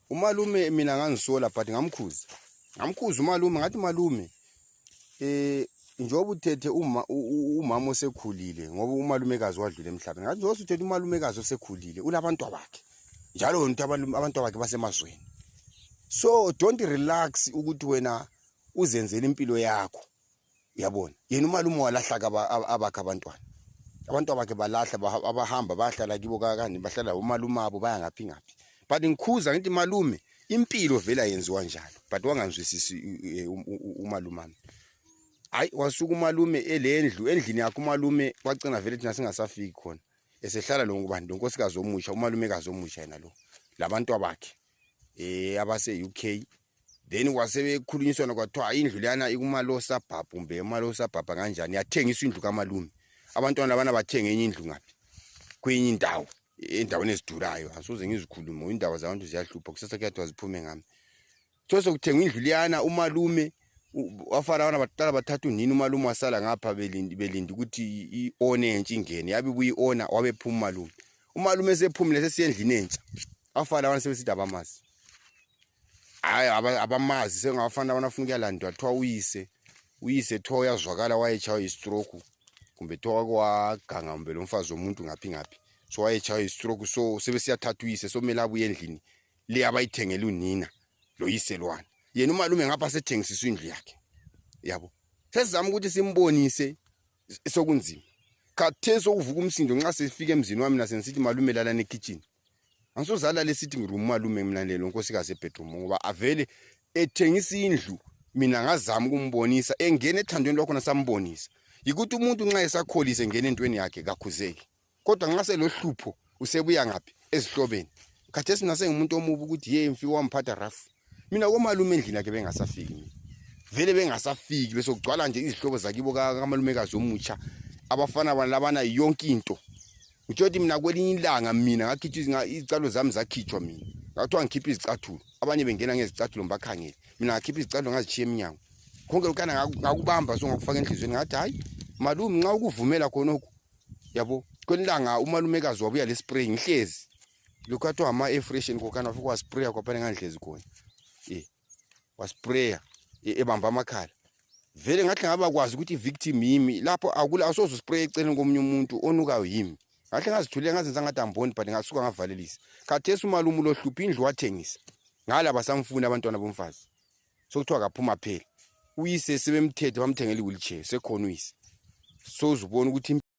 umalume mina ngangisola but ngamkhuza ngamkhuza umalume ngathi malume eh njengoba uthethe uma umama osekhulile ngoba umalumekazi wadlula emhlabeni ngathi njengoba uthethe umalumekazi osekhulile unabantu bakhe njalo wena uthi abantu bakhe basemazweni so don't relax ukuthi wena uzenzele impilo yakho yabona yena umalume walahla abakhe abantwana abantu abakhe balahla abahamba bayahlala kibo kakani bahlala umalume abo baya ngaphi ngaphi but ngikhuza ngithi malume impilo vele ayenziwa njalo but wangangizwisisi e, umalumami hayi wasuka umalume elendlu endlini yakhe umalume kwagcina vele thina singasafiki khona esehlala lo ngubani lo nkosikazi omusha umalumekazi omusha yena lo labantu abakhe eh abase UK then wasebekhulunyiswana kwathiwa indlu leyana ikumalosa bhabha kumbe emalosa bhabha kanjani yathengiswa indlu kamalume abantwana labana bathenga enye indlu ngaphi kwenye indawo endaweni ezidurayo asoze ngizikhulume indaba zabantu ziyahlupha kusasa kuyathiwa ziphume ngami so sekuthengwa indlu liyana umalume wafana abana baqala bathatha unini umalume wasala ngapha belindi belindi ukuthi i-one entsha ingene yabe buyi-ona wabephuma umalume umalume sephumile sesiyendlini entsha abafana abana sebesithi abamazi hayi abamazi sengabafana abana funa ukuyalandwa kuthiwa uyise uyise kuthiwa uyazwakala wayetshaywa yistroke kumbe kuthiwa wake waganga kumbe lo mfazi womuntu ngaphi ngaphi so wayetshaywa yistroke so sebesiyathatha uyise so kumele abuye endlini le abayithengele unina lo yise lwana yena umalume ngapha sethengisiswa indlu yakhe yabo sesizama ukuthi simbonise sokunzima khathesi okuvuka umsindo nxa sifika emzini wami nasengisithi malume lalana ekitshini angisozalala esithi ngirumu malume mina lelo nkosikazi ebedroom ngoba avele ethengisa indlu mina ngazama ukumbonisa engena ethandweni lwakhona sambonisa yikuthi umuntu nxa esakholise engena entweni yakhe kakhuzeki kodwa nxa selohlupho usebuya ngaphi ezihlobeni khathesi mina sengimuntu omubi ukuthi ye mfi wamphatha rafu mina komalume endlini yakhe bengasafiki mina vele bengasafiki bese kugcwala nje izihlobo zakibo kamalumekazi omutsha abafana bana labana yonke into ngitsho ukuthi mina kwelinye ilanga mina ngakhitshwa izicathulo zami zakhitshwa mina ngakuthiwa ngikhiphe izicathulo abanye bengena ngezicathulo ngibakhangele mina ngakhipha izicathulo ngazitshiya emnyango konke lokana ngakubamba so ngakufaka enhliziyweni ngathi hhayi malume nxa ukuvumela khonokhu yabo kwelinye ilanga umalumekazi wabuya le spray ngihlezi Luka to hama e fresh in kokana fuku wa sprayer kwa pale nganhlezi khona. Eh. Wa sprayer e, ebamba amakhala. Vele ngathi ngaba kwazi ukuthi victim yimi lapho akula asozo spray eceleni komunye umuntu onukayo yimi. Ngathi ngazithulela ngazenza ngathi amboni but ngasuka ngavalelisa. Khathesi umalumu lo hluphi indlu wathengisa. Ngala basamfuna abantwana bomfazi. Sokuthiwa kaphuma phela. Uyise sebemthethe bamthengela iwheelchair sekhona uyise. Sozubona ukuthi